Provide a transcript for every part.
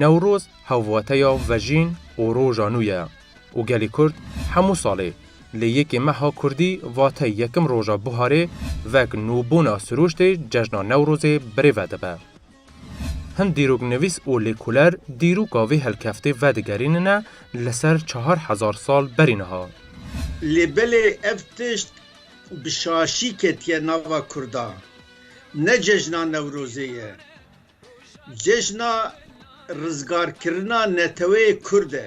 Newroz hevwateya vejîn û roja nû ye û gelê Kurd hemû salê li yekê meha Kurdî vate yekim roja buharê vek nûbûna sirûştê cejna Newrozê birêve dibe. Hin dîroknivîs û lêkoler dîroka vê helkeftê vedigerînine li ser çar hezar sal berî niha. Lê belê ev tişt bi şaşî ketiye nava kurdan. Ne cejna Newrozê ye. Cejna rizgarkirina neteweyê kurd e.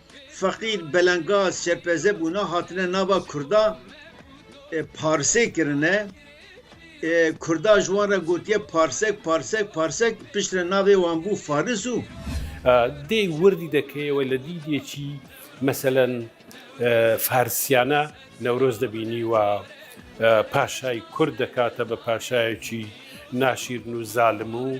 Feqîr, Belengaz, Şepeze bûna hatine nava Kurda e, Parsê kirine e, Kurda ji wan re gotiye Parsek, Parsek, Parsek, pişt re navê wan bû Faris û. Dê wirdî de keye we li dîdê çî meselen e, Farisiyane Newroz de bînî wa e, paşayî Kurd dekate bi paşayekî naşîrin û zalim û.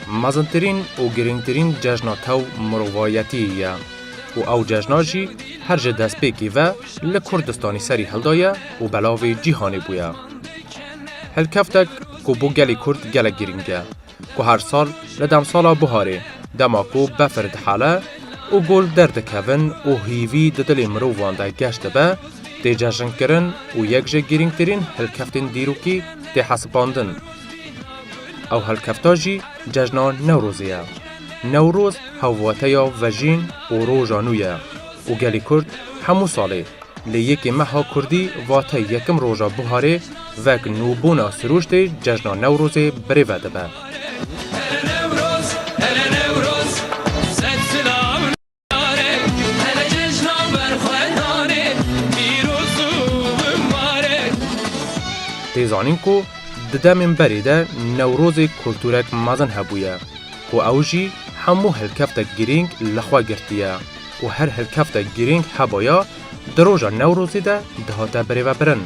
Mezintirîn û girîngtirîn cejna tew mirovayetiyê ye û ew cejna jî her ji destpêkê ve li Kurdistanê serî hildaye û belavê cîhanê bûye. Hilkeftek ku bo gelê Kurd gelek girîng e, ku her sal li demsala buharê dema ku befir dihale û gul derdikevin û hîvî di dilê mirovan de geş dibe, tê cejinkirin û yek ji girîngtirîn hilkeftên dîrokî tê hesibandin. Ew helkefta jî cejna Newrozê ye. Newroz hevwateya vejîn û roja nû ye û gelê Kurd hemû salê li yekê meha kurdî vate yekim roja buharê vek nûbûna sirûştê cejna Newrozê birêve dibe. Tê zanîn ku di demên berê de Newrozê kulturek mezin hebûye ku ew jî hemû hilkeftek girîng li xwe girtiye û her hilkeftek girîng hebaya di roja Newrozê de dihate birêvebirin.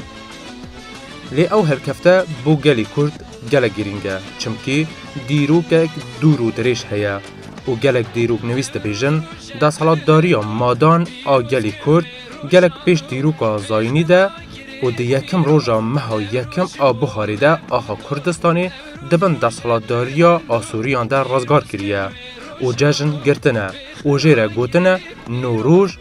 Lê ew hilkefte bo gelê Kurd gelek girîng e çimkî dîrokek dûr û dirêj heye. û gelek dîroknivîs dibêjin desthilatdariya madan a gelê Kurd gelek pêş dîroka zayînî de û di yekim roja meha yekim a buharê de axa Kurdistanê di bin desthilatdariya Asûriyan de rizgar kiriye û cejn girtine û jê re gotine Nowroj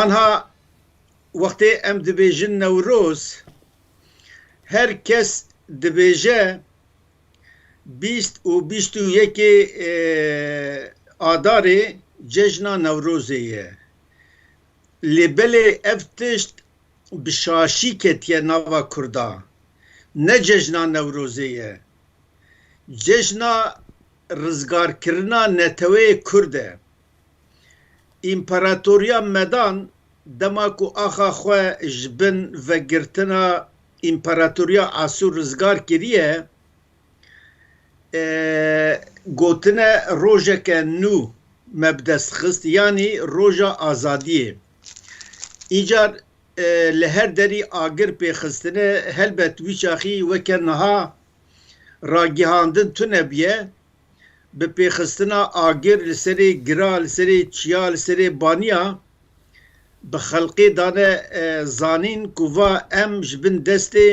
Anha wextê em dibêjin Newroz, her kes dibêje bîst û bîst û yekê Adarê cejna Newrozê ye. Lê belê ev tişt bi şaşî ketiye nava kurdan. Ne cejna Newrozê ye. Cejna rizgarkirina neteweyê kurd e. Împaratoriya Medan dema ku axa xwe ji bin vegirtina Împaratoriya Asûr rizgar kiriye, gotine rojeke nû me bi dest xist, yanî roja azadiyê. Îcar li her derî agir pêxistine helbet wî çaxî weke niha ragihandin tune bûye, bi pêxistina agir li serê gira, li serê çiya, li serê baniya bi xelqê dane zanîn ku va em ji bin destê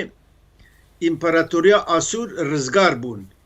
Împaratoriya Asûr rizgar bûn.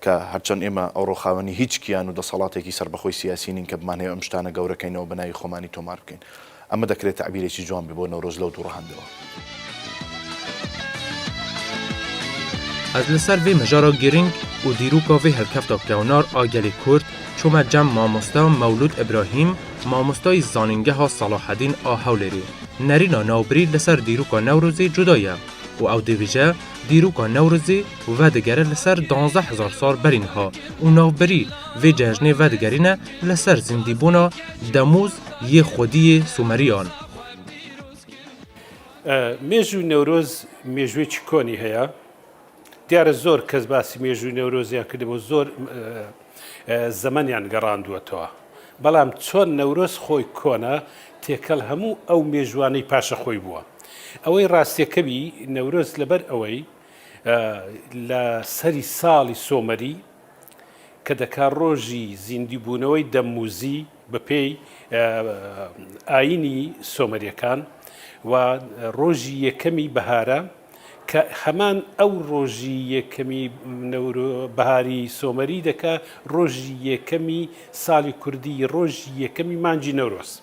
Ka her çend ême ewro xawenî hîç kiyan û desalatêkî serbekhoi siyasî nîn ke bi manhê em ji tane gewre keyne û bi nayî xomanî tomar bikeyn. Eme dekirê tebîrêkî ciwan bî bo Newroz lewt û rihande we. Ez li ser vê mijara girîng û dîroka vê hilkefta kewnar a gelê Kurd çûme cem mamosta Mewlûd Îbrahîm, mamostayî Zanîngeha Salahedîn a Hewlêrê. Nerîna navbirî li ser dîroka Newrozê cuda ye û ew dibêje Dîroka Newrozê vedigere li ser duwazdeh hezar sal berî niha û navberî vê cejnê vedigerîne li ser zindîbûna Demûz yê xwediyê Sûmeriyan. Mêjû Newroz mêjûyê çikonî heye. Diyare zor kes basî mêjûyê Newrozê ya kiribo û zor zemeniyan gerandûetewa. Belam çon Newroz xo kon e, têkel hemû ew mêjûaney paşa xo bûe. Ewey rastiyekebî Newroz li ber ewey li serî salî somerî ke dika rojî zîndîbûnewey Demmûzî bi pey ayînî somerîyekan û rojî yekemî bihare ke heman ew rojî yekemî biharî somerî dika rojî yekemî salî kurdî rojî yekemî mancî Newroz.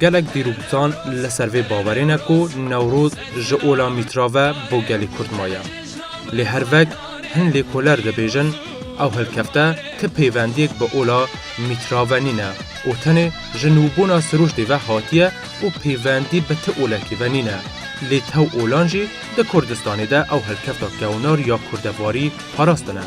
Gelek dîrokîtan li ser vê bawerê ne ku Newroz ji ola mîtra ve bo gelê Kurd maye. Lê her vek hin lêkoler dibêjin ew hilkefte ti pêvendiyek bi ola mîtra ve nîne û tenê ji nûbûna sirûştê ve hatiye û pêvendî bi ti olekî ve nîne. Lê tew olan jî di Kurdistanê de ew hilkefta kewnar ya kurdevarî parastine.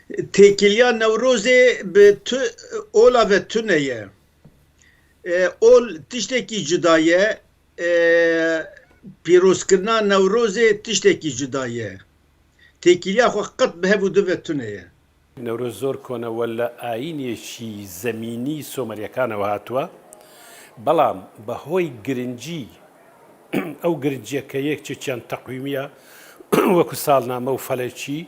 Têkiliya Newrozê bi tu ola ve tune ye. Ol tiştekî cuda ye, pîrozkirina Newrozê tiştekî cuda ye. Têkiliya xwe qet bi hev û du ve tune ye. Newroz zor kone wele ayînekî zemînî Someryekan ew hatue. Belam be hoy girincî ew girincîye ke yek çi çend teqwîmîya weku salname û felekî,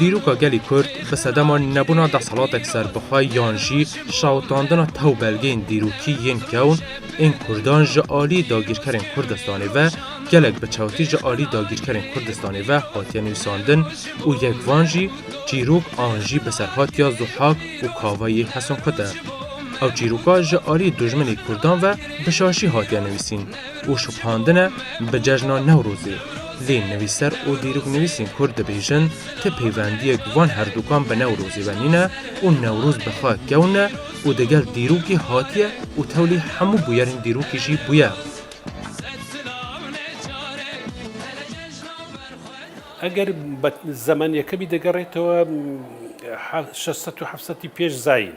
Dîroka gelê Kurd bi sedema nebûna desthilatek serbixwe yan jî şewitandina tewbelgeyên dîrokî yên kewn ên Kurdan ji aliyê dagîrkerên Kurdistanê ve gelek bi çewtî ji aliyê dagîrkerên Kurdistanê ve hatiye nivîsandin û yek van jî çîrok an jî bi serhatiya Zuhak û Kava yê Heson Kut e. Ew çîroka ji aliyê dojminê Kurdan ve bi şaşî hatiye nivîsîn. û şopandine bi cejna Newrozê. Lê nivîser û dîroknivîsên Kurd dibêjin ti peywendiyek van herdukan bi Newrozê ve nîne û Newroz bi xwe kewn e û di gel dîrokê hatiye û tewlî hemû bûyerên dîrokê jî bûye. Eger bi zemenê yekemî de gerêtewe şeş sed û heft sedî pêş zayîn.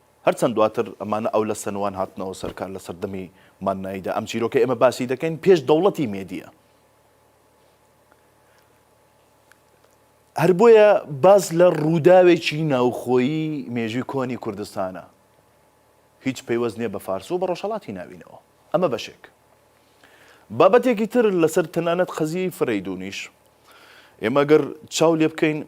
Her çend duatir mana ew li Senwan hatine û serkar li serdemî manayî de. Em çîrokê ême basî dekein pêş dewletî mêdiye. Her boye bas li rûdawekî navxoyî mêjû konî Kurdistan e. Hîç peywest nîye bi Fars û bi Rojhelatî navînewa. Em e beşek. Babetekî tir li ser tenanet qeziyeyî Fireydûnîş. Ême gir çaw lê bikein.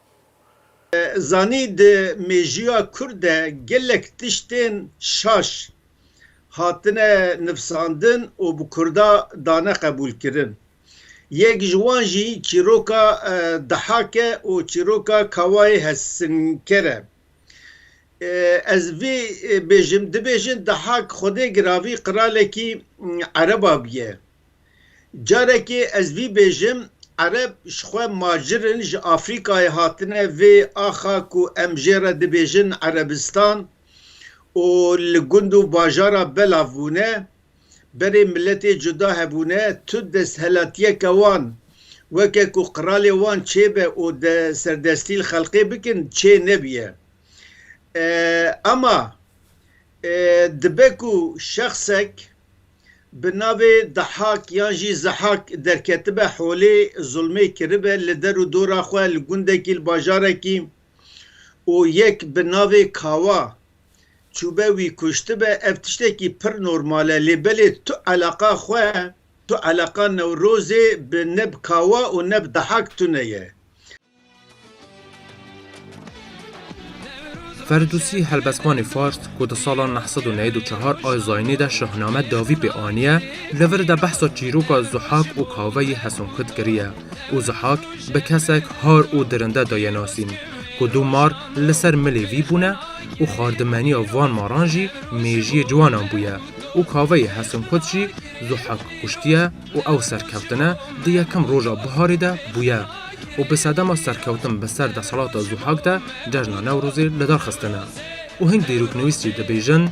Zanî di mêjiya Kurd de gelek tiştên şaş hatine nifsandin û bi Kurda dane qebûlkirin. Yek ji wan jî çîroka Dihak e û çîroka Kawayê Hesinker e. Ez vê bêjim, dibêjin Dihak xwedê giravî qiralekî Ereba bûye. Carekê ez vî bêjim, Ereb ji xwe macir in, ji Afrikayê hatine vê axa ku em jê re dibêjin Erebistan û li gund û bajara belav bûne, berê miletê cuda hebûne, tu desthilatiyeke wan weke ku qiralê wan çêbe û de serdestî li xelqê bikin çê nebîye. Ema dibe ku şexsek. bi navê Dahak yan jî Zehak derketibe holê, zulmê kiribe li der û dora xwe li gundekî li bajarekî û yek bi navê Kawa çûbe wî kuştibe, ev tiştekî pir normal e lê belê tu eleqa xwe, tu eleqa Newrozê bi ne bi Kawa û ne bi Dahak tune ye. Ferdûsî helbestvanê fars ku di sala neh sed û newîd û çehar a zayînê de şahname dawî pê aniye li vir de behsa çîroka Zihak û Kave yê Heson Kut kiriye û Zihak bi kesek har û dirinde daye nasîn ku du mar li ser milê vî bûne û xardimeniya van maran jî mêjiyê ciwanan bûye û Kave yê Heson Kut jî Zihak kuştiye û ew serkevtine di yekem roja biharê de bûye û bi sedema serkewtin bi ser desthilata Zuhak de cejna Newrozê li dar xistine û hin dîroknivîs jî dibêjin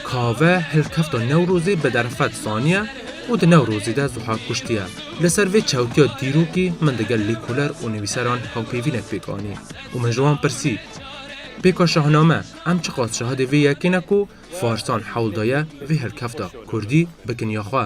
Kave hilkefta Newrozê bi derfet saniye û di Newrozê de Zuhak kuştiye. Li ser vê çewtiya dîrokî min digel lêkoler û nivîseran hawpêvînek pêk anî û min ji wan pirsî Pêka şahname em çiqas şahidê vê yekê ne ku Farsan hewl daye vê hilkefta, Kurdî, bikin ya xwe.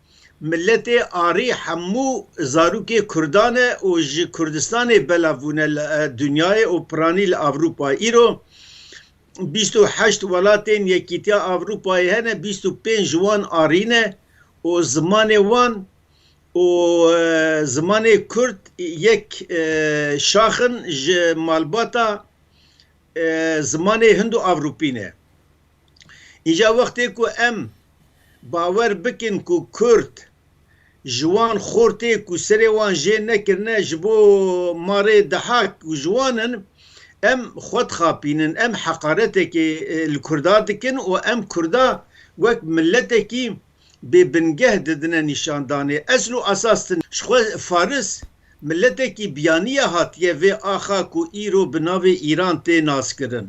Miletê Arî hemû zarokê Kurdan e û ji Kurdistanê belav bûne li dinyayê û piranî li Ewropayê. Îro bîst û heşt welatên Yekîtiya Ewropayê hene, bîst û pênc ji wan Arî ne û zimanê wan û zimanê Kurd yek şax in ji malbata zimanê Hind û Ewropî ne. Îja wextê ku em bawer bikin ku Kurd ji wan xortê ku serê wan jê nekirine ji bo ma rê dihak û ji wan in, em xwe dixapînin, em heqaretekê li Kurda dikin û em Kurda wek miletekî bê bingeh didine nîşandanê. Esl û esas ti ne. Ji xwe Faris miletekî biyaniye hatiye vê axa ku îro bi navê Îran tê naskirin.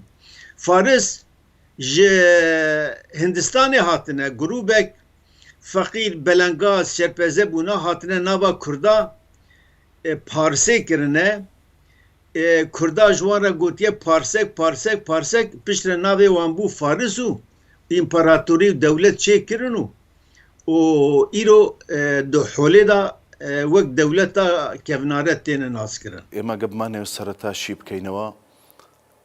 Faris ji Hindistanê hatine, grûbek feqîr, belengaz, şerpeze bûne hatine nava kurda parsê kirine, kurda ji wan re gotiye parsek, parsek, parsek, piştre navê wan bû faris û împaratorî û dewlet çê kirin û û îro di holê de wek dewleta kevnare têne naskirin. Êma ge bima nêw sereta şî bikeynewa.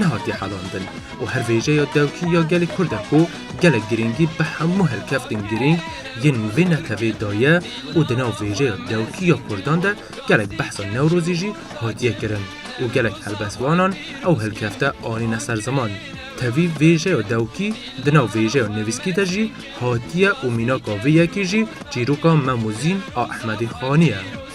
nehatiye helandin û her vêjeyê ya dewkî ya gelê Kurd e ku gelek girîngî bi hemû hilkeftên girîng yên li vê netewê de ye û di nav vêjeya dewkî ya Kurdan de gelek behsa Newrozî jî hatiye kirin û gelek helbestvanan ew hilkefte anîne ser ziman. Tevî vêjeya dewkî di nav vêjeya nivîskî de jî hatiye û mînaka vê yekê jî çîroka Mem û Zîn a Ehmedê Xanî ye.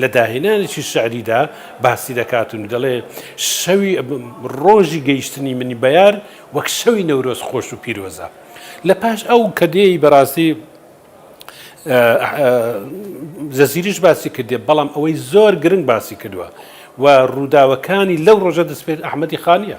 Li dahênanekî şerî de basî dekat û dile şewî rojî gehîştinî min beyar wek şewî newroz xoş û pîroz e. Li paş ew kedeyê bi rastî Zezîrîş basî kirdiye belam ewey zor giring basî kirdiwe we rûdawekanî lew roja destpê Ehmedî Xanî ye.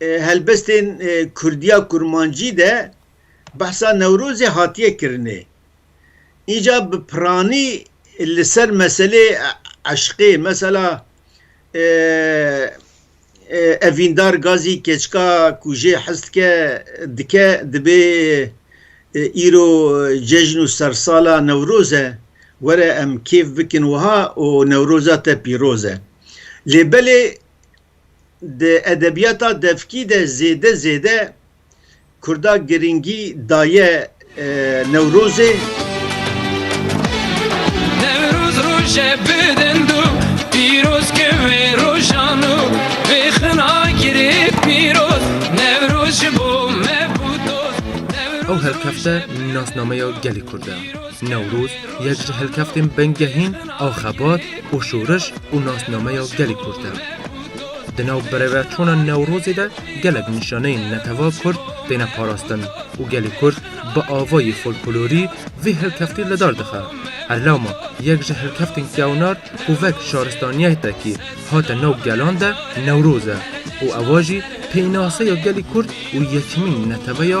helbestên Kurdiya Kurmancî de behsa Newrozê hatiye kirinê. Înca bi piranî li ser meselê eşqê mesela Evîndar Gazî keçika ku jê hez dike dike dibê îro cejn û sersala Newroz e were em kêf bikin wiha û Newroza te pîroz e. Lê belê di edebiyata devkî de zêde zêde Kurda girîngî daye Newrozê. Ew helkefte nasnameya gelê Kurd e. Newroz yek ji helkeftên bingehîn a xebat, û şoriş û nasnameya gelê Kurd e. Di nav birêveçûna Newrozê de gelek nîşaneyên netewa Kurd têne parastin û gelê Kurd bi avayê folklorî vî hilkeftî li dar dixe. Her lama yek ji hilkeftên kewnar ku vek şaristaniyeytekî hate nav gelan de Newroz e û ewa jî pênaseya gelê Kurd û yekemîn neteweya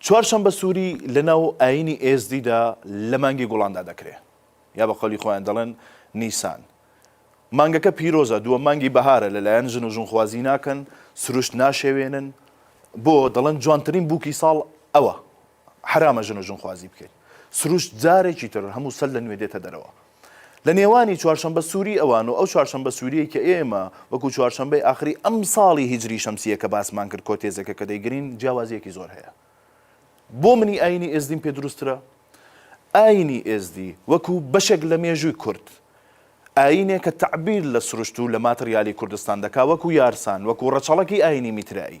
Çwarşembe Sûrî li nav Ayînî Êzdî de li mangê Gulan de dekirê. Ya bi qawlî xwe yên delin Nîsan. Mangeke pîroz e, duwem mangî bihar e, li layan jin û jinxwazî nakin, sirûşt naşewênin. Bo, delin ciwantirîn bûkî sal ew e. Heram e jin û jinxwazî bikin. Sirûşt carekî tir hemû sal li nûê dête derewa. Li nêwanî Çarşembe Sûrî ewan û ew Çarşembe Sûrîyê ke ê me wekû Çarşembeyê axirî emsalî Hîcrî Şemsîyê ke basman kir ku têzeke ke dêgirîn ciyawazîyekî zor heye. Bo min î ayînî êzdîn pê dirûstir e. Ayînî êzdî wekû beşek li mêjûy kurd, ayînê ke tebîr li sirûşt û li materyalî Kurdistan dika wekû yarsan, wekû reçelekî ayînî mîtreî.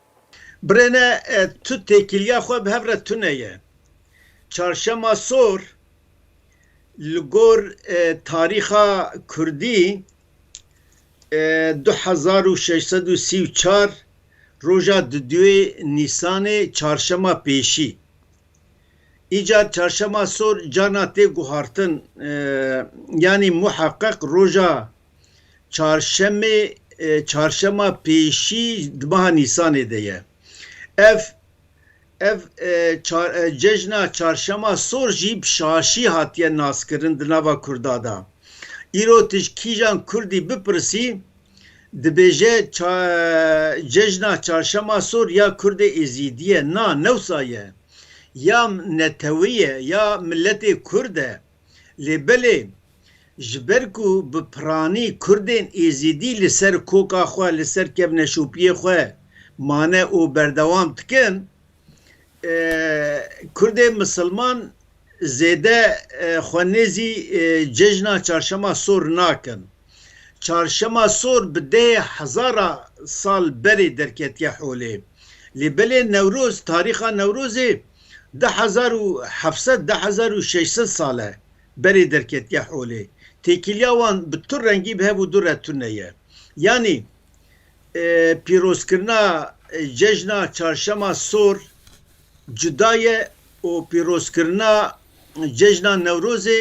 Birêne tu têkiliya xwe bi hev re tune ye. Çarşema Sor li gor tarîxa Kurdî du hezar û şeş sed û sî û çar roja duduyê Nîsanê çarşema pêşî. Îcar Çarşema Sor cana tê guhartin yanî muheqeq roja Çarşemê çarşema pêşî di meha Nîsanê de ye. Ev ev cejna çarşema sor jî bi şaşî hatiye naskirin di nava Kurda de. Îro tu ji kîjan Kurdî bipirsî dibêje cejna çarşema sor ya Kurdê Êzîdî ye. Na, newsa ye. Ya netewê ye ya miletê Kurd e. Lê belê ji ber ku bi piranî Kurdên Êzidî li ser koka xwe, li ser kevneşopiyê xwe mane û berdewam dikin, Kurdên Misilman zêde xwe nêzî cejna Çarşema Sor nakin. Çarşema sor bi dehê hezara sal berê derketiye holê. Lê belê Newroz, tarîxa Newrozê du hezar û heft sed, du hezar û şeş sed sal e berê derketiye holê. Têkiliya wan bi tu rengî bi hev û du re tune ye. Yanî pîrozkirina cejna Çarşema sor cuda ye û pîrozkirina Cejna Newrozê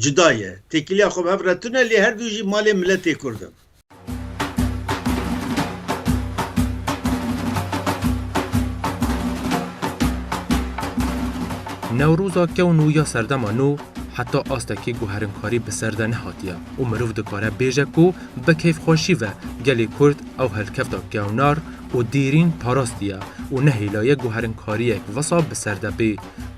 cuda ye. Têkiliya xwe bi hev re tune lê her du jî malê miletê Kurd in. Newroza kewn û ya serdema nû heta astekî guherinkarî bi ser de nehatiye û mirov dikare bêje ku bi keyfxweşî ve gelê Kurd ew helkevta kewnar û dîrîn parastiye û ne hêla ye guherinkariyek wisa bi ser de bê.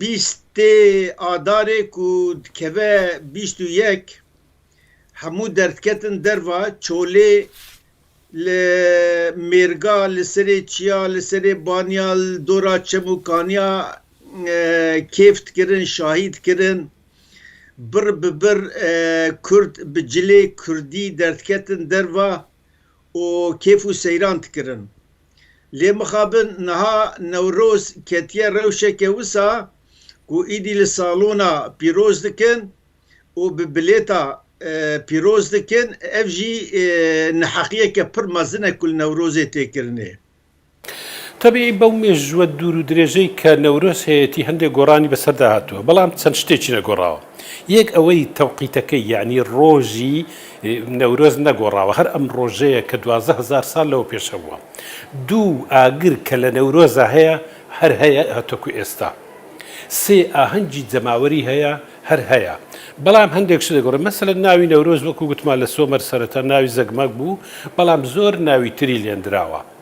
bîstê Adarê ku dikeve bîst û yek hemû derdiketin derva çolê li mêrga li serê çiya li serê baniya li dora çem û kaniya kêf dikirin şahî dikirin bir bi bir kurd bi cilê kurdî derdiketin derva û kêf û seyran dikirin. Lê mixabin niha Newroz ketiye rewşeke wisa ku îdî li salona pîroz dikin û bi bilêta pîroz dikin, ev jî neheqiyeke pir mezin e ku li Newrozê tê kirinê. Tevî bew mêjûwe dûr û dirêjey ke Newroz heyetî hindê goranî bi ser de hatiwe, belam çend şitê çine gora. Yek eweyî tewqîtekê yanî rojî Newroz ne gorawa her em rojeye ke duwazdeh hezar sal lew pêş hebûwa. Dû agir ke li Newroza heye her heye heto ku êsta. Sê ahincî cemawerî heye her heye. Belam hindek şide gore. Meselen navî Newroz wek ku gotima li Somer sereta navî Zegmag bû belam zor navî tirî lêndirawa.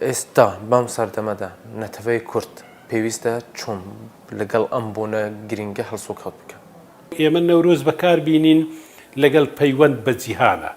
Êsta bam serdeme de neteweyê kurd pêwîst e çom li gel em bûne girîng e hilsokat bike. Ême Newroz bekar bînîn li gel peywend be cîhana.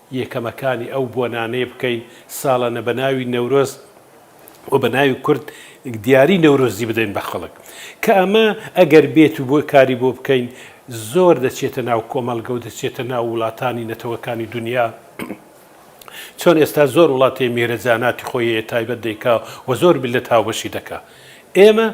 Yêkemekanî ew bonanê bikeyn salane bi navî Newroz û bi navî Kurd diyarî Newrozî bideyn be xelik. Ke eme eger bêt û bo karî bo bikeyn zor deçête nav komelge û deçête nav welatanî netewekanî dunya. Çon êsta zor welatê mêhre zanatî xo yê taybet deyka û zor mîllet hawbeşî deka. Ême